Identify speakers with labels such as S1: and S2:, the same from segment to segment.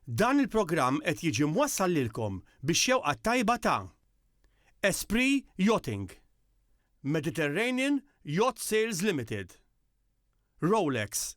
S1: Dan il-programm qed jiġi mwassal lilkom bix-xewqa t-tajba ta' Esprit Yachting, Mediterranean Yacht Sales Limited, Rolex,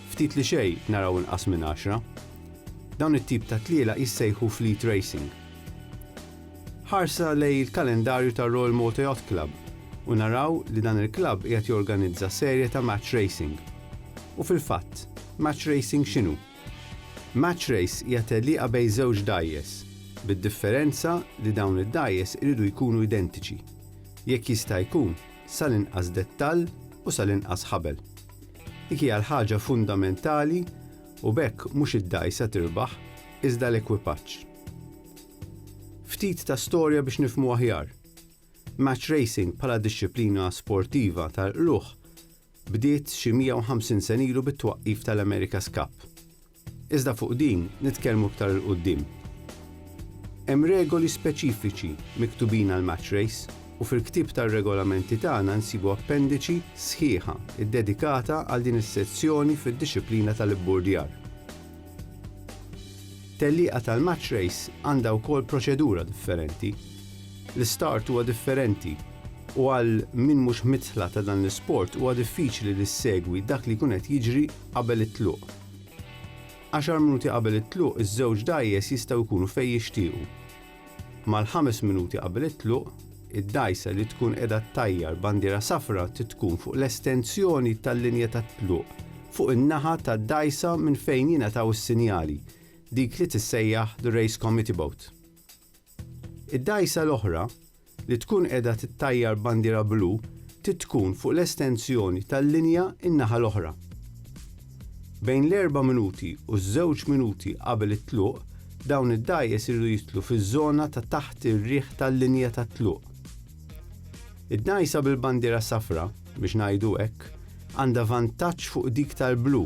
S2: Ftit li xejn naraw inqas minn għaxra. Dawn it-tip ta' tlielaq jissejħu fleet racing. Ħarsa lejn il-kalendarju tar-Royal Malta Yacht Club u naraw li dan il-klabb qiegħed jorganizza serje ta' match racing. U fil-fatt, match racing x'inhu? Match race hija tellieqa bejn żewġ dgħajjes, bid-differenza li dawn id-dgħajjes iridu jkunu identiċi, jekk jista' jkun, sal-inqas dettall u sal-inqas ħabel. Dik hija l-ħaġa fundamentali u b'hekk mhux id-dgħajsa tirbaħ iżda l-ekwipaġġ. Ftit ta' storja biex nifhmu aħjar. Match racing bħala dixxiplina sportiva tal-qlugħ bdiet xi 150 sen ilu bit-twaqqif tal-America's Cup. Iżda fuq din nitkellmu iktar 'il quddiem. Hemm regoli speċifiċi miktubin għall-match race u fil-ktieb tar-regolamenti tagħna nsibu appendiċi sħiħa ddedikata għal din is-sezzjoni fid-dixxiplina tal-ibburdjar. Tellieqa tal-match race għandha wkoll proċedura differenti. L-istart huwa differenti u għal min mhux midħla ta' dan l-isport huwa diffiċli li ssegwi dak li jkun qed jiġri qabel it-tluq. Għaxar minuti qabel it-tluq iż-żewġ dgħajjes jistgħu jkunu fejn jixtiequ. Mal-ħames minuti qabel it-tluq, id-dgħajsa li tkun qiegħda ttajjar bandiera safra trid tkun fuq l-estensjoni tal-linja tat-tluq fuq in-naħa tad-dgħajsa minn fejn jingħataw is-sinjali, dik li tissejjaħ the race committee boat. Id-dgħajsa l-oħra li tkun qiegħda tittajjar bandiera blu trid tkun fuq l-estensjoni tal-linja n-naħa l-oħra. Bejn l-erba' minuti u ż-żewġ minuti qabel it-tluq dawn id-dgħajjes iridu jidħlu fiż-żona ta' taħt ir-riħ tal-linja tat-tluq. Id-dgħajsa bil-bandiera safra, biex ngħidu hekk, għandha vantaġġ fuq dik tal-blu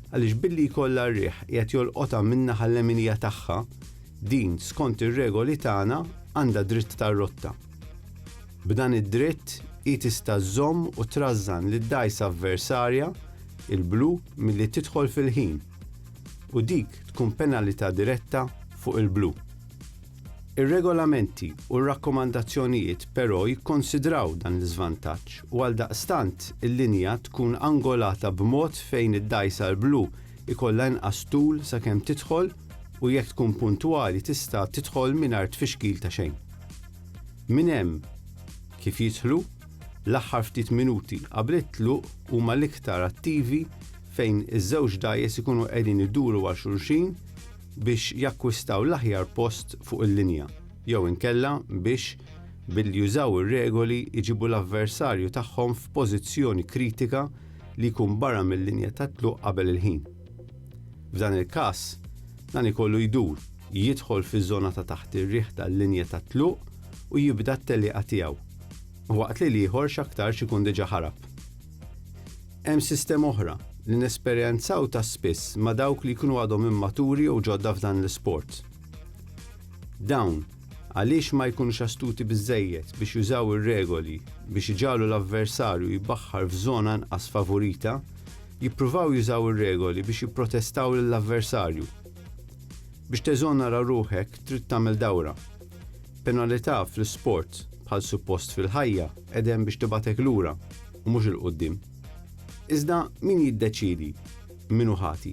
S2: għaliex billi jkollha r-riħ qiegħed jolqotha min-naħa leminija tagħha, Din, skont ir-regoli tagħna, għandha dritt tar-rotta. B'dan id-dritt, hi tista' żżomm u trażżan lid-dgħajsa avversarja, il-blu, milli tidħol fil-ħin, u dik tkun penalità diretta fuq il-blu. Ir-regolamenti u r-rakkomandazzjonijiet però jikkonsidraw dan l-iżvantaġġ u għaldaqstant il-linja tkun angolata b'mod fejn id-dgħajsa l-blu jkollha inqas tul sakemm tidħol u jekk tkun puntwali tista' tidħol mingħajr tfixkil ta' xejn. Minn hemm kif jidħlu, l-aħħar ftit minuti qabel it-tluq huma l-iktar attivi fejn iż-żewġ dgħajjes ikunu qegħdin iduru għal xulxin biex jakkwistaw l-aħjar post fuq il-linja jew inkella biex billi jużaw ir-regoli jġibu l-avversarju tagħhom f'pożizzjoni kritika li jkun barra mil-linja tat-tluq qabel il-ħin. F'dan il-każ, dan ikollu jdur, jidħol fiż-żona ta' taħt ir-riħ tal-linja tat-tluq u jibda t-tellieqa tiegħu, waqt li l-ieħor x'aktarx ikun diġà ħarab. Hemm sistema oħra li nesperjenzaw ta' spiss ma' dawk li jkunu għadhom immaturi jew ġodda f'dan l-isport. Dawn, għaliex ma jkunux astuti biżżejjed biex jużaw ir-regoli biex iġagħlu l-avversarju jbaħħar f'żona inqas favurita, jippruvaw jużaw ir-regoli biex jipprotestaw lill-avversarju. Biex teżonera ruħek trid tagħmel dawra. Penalità fl-isport, bħal suppost fil-ħajja, qed hemm biex tibgħatek lura, u mhux 'il quddiem. Iżda min jiddeċiedi min hu ħati?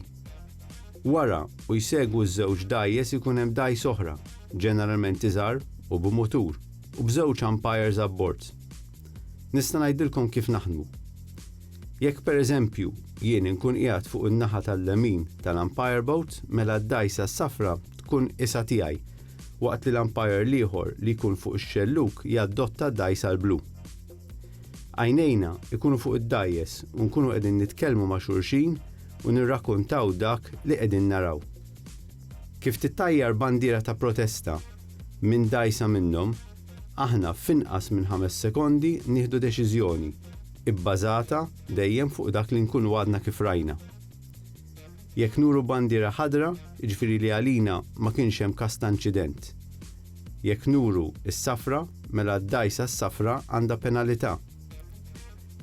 S2: Wara u jsegwu ż-żewġ dgħajjes ikun hemm dgħajs oħra, ġeneralment iżgħar u b'mutur, u b'żewġ umpires abbord. Nista' ngħidilkom kif naħdmu. Jekk pereżempju jien inkun qiegħed fuq in-naħa tal-lemin tal-umpire boat mela d-dgħajsa s-safra tkun isha tiegħi, waqt li l-umpire l-ieħor li jkun fuq ix-xellug jaddotta d-dgħajsa l-blu. Għajnejna jkunu fuq id-dgħajjes u nkunu qegħdin nitkellmu ma' xulxin u nirrakuntaw dak li qegħdin naraw. Kif tittajjar bandiera ta' protesta minn dgħajsa minnhom, Aħna f'inqas minn ħames sekondi nieħdu deċiżjoni, ibbażata dejjem fuq dak li nkunu għadna kif rajna. Jekk nuru bandiera ħadra, jiġifieri li għalina ma kienx hemm każ ta' inċident. Jekk nuru s-safra, mela d-dgħajsa s-safra għandha penalità.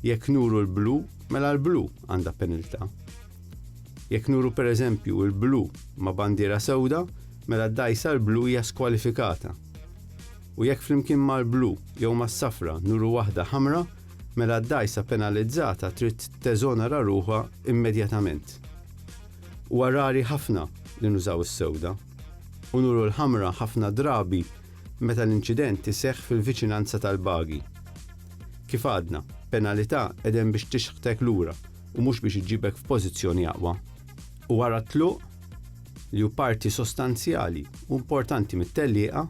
S2: Jekk nuru l-blu, mela l-blu għandha peniltà. Jekk nuru pereżempju l-blu ma' bandiera sewda, mela d-dgħajsa l-blu hija skwalifikata. u jekk flimkien mal-blu jew mas-safra nuru waħda ħamra, mela d-dgħajsa penalizzata trid teżonera ruħha immedjatament. Huwa rari ħafna li nużaw is-sewda, u nuru l-ħamra ħafna drabi meta l-inċident iseħħ fil-viċinanza tal-bagi. Kif għadna, penalità qegħdem biex tixħtek lura u mhux biex iġġibek f'pożizzjoni aqwa. U wara t-tluq? li hu parti sostanzjali u importanti mit-tellieqa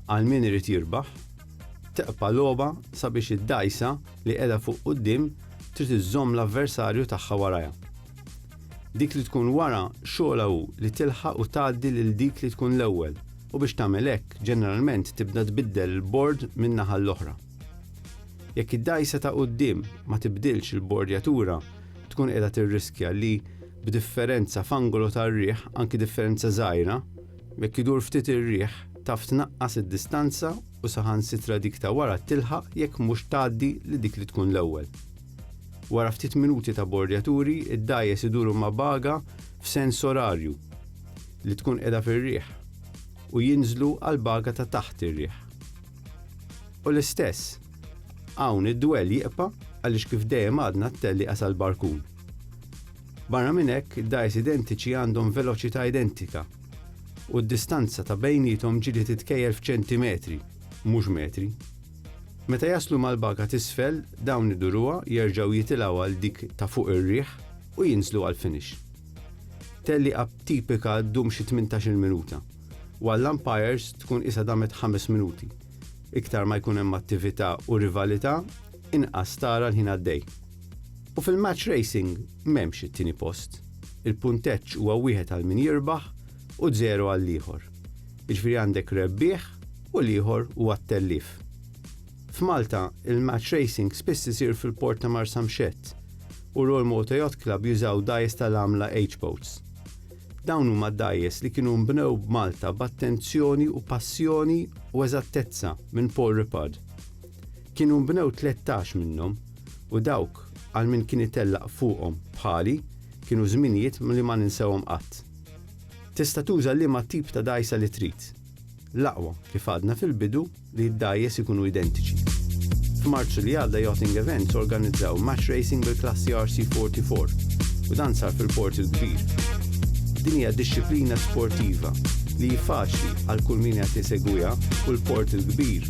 S2: għal min irid jirbaħ, teqpa' logħba sabiex id-dgħajsa li qiegħda fuq quddiem trid iżżomm l-avversarju tagħha warajha. Dik li tkun wara xogħolha hu li tilħaq u tgħaddi lil dik li tkun l-ewwel u biex tagħmel hekk ġeneralment tibda tbiddel il-bord min-naħa l-oħra. Jekk id-dgħajsa ta' quddiem ma tibdilx il-bordjatura tkun qiegħda tirriskja li b'differenza f'angolu tar-riħ, anki differenza żgħira, jekk idur ftit ir-riħ, taf tnaqqas id-distanza u saħansitra dik ta' wara tilħaq jekk mhux tgħaddi lil dik li tkun l-ewwel. Wara ftit minuti ta' bordjaturi, id-dgħajjes iduru ma' baga f'sens orarju, li tkun qiegħda fir-riħ, u jinżlu għall-baga ta' taħt ir-riħ. U l-istess, hawn id-dwell jiqpa' għaliex kif dejjem għadna t-tellieqa sal-barkun. Barra minn hekk, id-dgħajjes identiċi għandhom veloċità identika u d-distanza ta' bejniethom ġieli titkejjel f'ċentimetri, mhux metri. Meta jaslu mal-baga t'isfel, dawn iduruha, jerġgħu jitilgħu għal dik ta' fuq ir-riħ u jinżlu għall-finish. Tgħelliqa tipika ddum xi tmintax-il minuta, u għall-umpires tkun qisha damet ħames minuti. Iktar ma jkun hemm attività u rivalità, inqas tara l-ħin għaddej. U fil-match racing m'hemmx it-tieni post. Il-punteġġ huwa wieħed għal min jirbaħ u żero għall-ieħor. Jiġifieri għandek rebbieħ u l-ieħor huwa t-tellief. F'Malta, il-match racing spiss isir fil-port ta' Marsamxett u Royal Malta Yacht Club jużaw dgħajjes tal-għamla H-boats. Dawn huma d-dgħajjes li kienu nbnew b'Malta b'attenzjoni u passjoni u eżattezza minn Paul Rippard. Kienu nbnew tlettax minnhom, u dawk għal min kien itellaq fuqhom bħali kienu żminijiet li ma ninsewhom qatt. Tista' tuża liema tip ta' dgħajsa li trid. L-aqwa, kif għadna fil-bidu, li d-dgħajjes ikunu identiċi. F'Marzu li għadda Yachting Events organizzaw match racing bil-klassi RC44 u dan sar fil-Port il-Kbir. Din hija dixxiplina sportiva li hi faċli għal kull min qed isegwiha u l-Port il-Kbir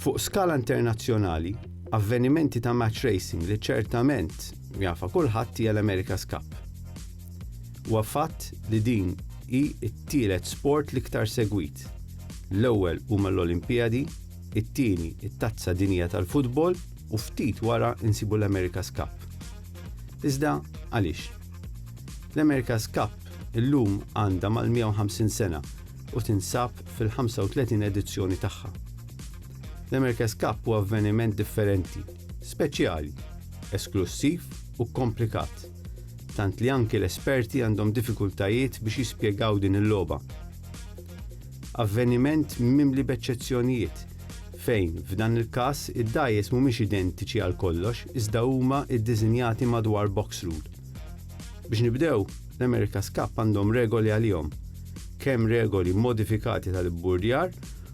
S2: Fuq skala internazzjonali, avvenimenti ta' match racing li ċertament jafha kulħadd hija l-America's Cup. Huwa fatt li din hi t-tielet sport l-iktar segwit, l-ewwel huma l-Olimpijadi, it-tieni t-Tazza Dinjija tal-Futbol u ftit wara nsibu l-America's Cup. Iżda għaliex? L-America's Cup Illum għandha mal-150 sena u tinsab fil-35 edizzjoni tagħha. L-America's Cup huwa avveniment differenti, speċjali, esklussiv u kkomplikat, tant li anki l-esperti għandhom diffikultajiet biex jispjegaw din il-logħba. Avveniment mimli b'eċċezzjonijiet, fejn, f'dan il-każ, id-dgħajjes mhumiex identiċi għal kollox iżda huma ddisinjati madwar box rule. Biex nibdew, l-America's Cup għandhom regoli għalihom, kemm regoli modifikati tal-ibburdjar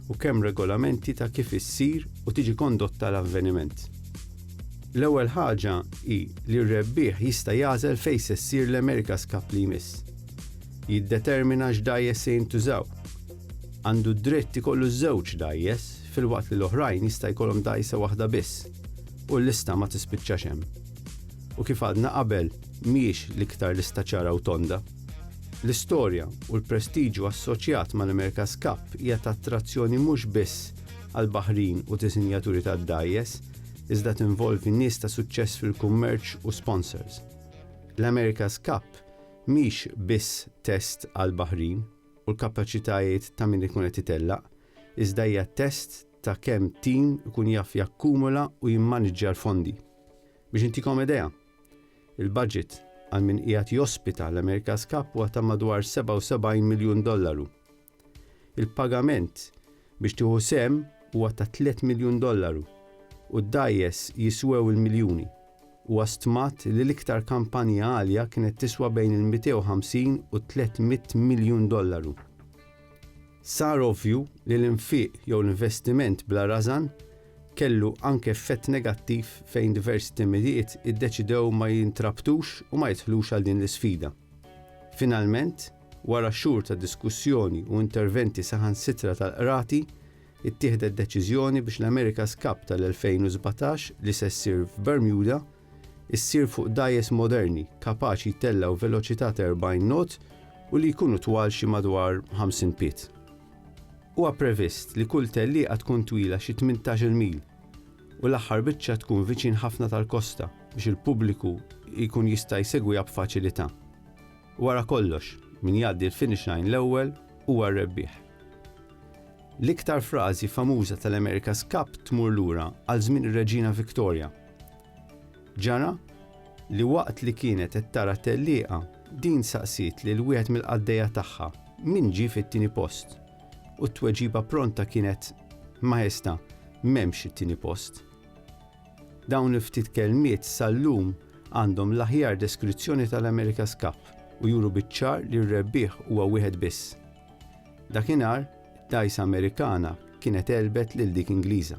S2: u kemm regolamenti ta' kif issir u tiġi kondotta l-avveniment. L-ewwel ħaġa hi li r-rebbieħ jista' jagħżel fejn se ssir l-America's Cup li jmiss. Jiddetermina x'dgħajjes se jintużaw. Għandu d-dritt ikollu żewġ dgħajjes filwaqt li l-oħrajn jista' jkollhom dgħajsa waħda biss, u l-lista ma tispiċċax hemm. u kif għadna qabel mhijiex l-iktar lista ċara u tonda. L-istorja u l-prestiġju assoċjat mal-America's Cup hija ta' attrazzjoni mhux biss għall-baħrin u disinjaturi tad-dgħajjes, iżda tinvolvi nies ta' suċċess fil-kummerċ u sponsors. L-America's Cup mhix biss test għall-baħrin u l-kapaċitajiet ta' min ikun qed itellaq, iżda hija test ta' kemm tim ikun jaf jakkumula u jimmaniġġja l-fondi. Biex intikom idea, il-baġit għal min qiegħed jospita l-America's Cup huwa ta' madwar 77 miljun dollaru. Il-pagament biex tieħu sehem huwa ta' 3 miljun dollaru u d-dgħajjes jiswew il-miljuni. Huwa stmat li l-iktar kampanja għalja kienet tiswa bejn il-250 u 300 miljun dollaru. Sar ovvju li l-infiq jew l-investiment bla rażan kellu anke effett negattiv fejn diversi timijiet iddeċidew ma jintrabtux u ma jidħlux għal din l-isfida. Finalment, wara xhur ta' diskussjoni u interventi saħansitra tal-qrati, ittieħdet deċiżjoni biex l-America's Cup tal-2017 li se ssir f'Bermuda, issir fuq dgħajjes moderni kapaċi jtellgħu veloċità ta' 40 knot u li jkunu twal xi madwar 50 pied. Huwa previst li kull tellieqa tkun twila xi 18-il mil u l-aħħar biċċa tkun viċin ħafna tal-kosta biex il-pubbliku jkun jista' jsegwiha b'faċilità. Wara kollox, min jgħaddi l-finish line l-ewwel huwa r-rebbieħ. L-iktar frażi famuża tal-America's Cup tmur lura għal żmien ir-Reġina Victoria. Ġara li waqt li kienet qed tara t-tellieqa, din saqsiet lil wieħed mill-qaddejja tagħha min ġie fit-tieni post, u t-tweġiba pronta kienet, Maestà, m'hemmx it-tieni post. Dawn il-ftit kelmiet sal-lum għandhom l-aħjar deskrizzjoni tal-America's Cup u juru biċ-ċar li r-rebbieħ huwa wieħed biss. Dakinhar, dgħajsa Amerikana kienet għelbet lil dik Ingliża.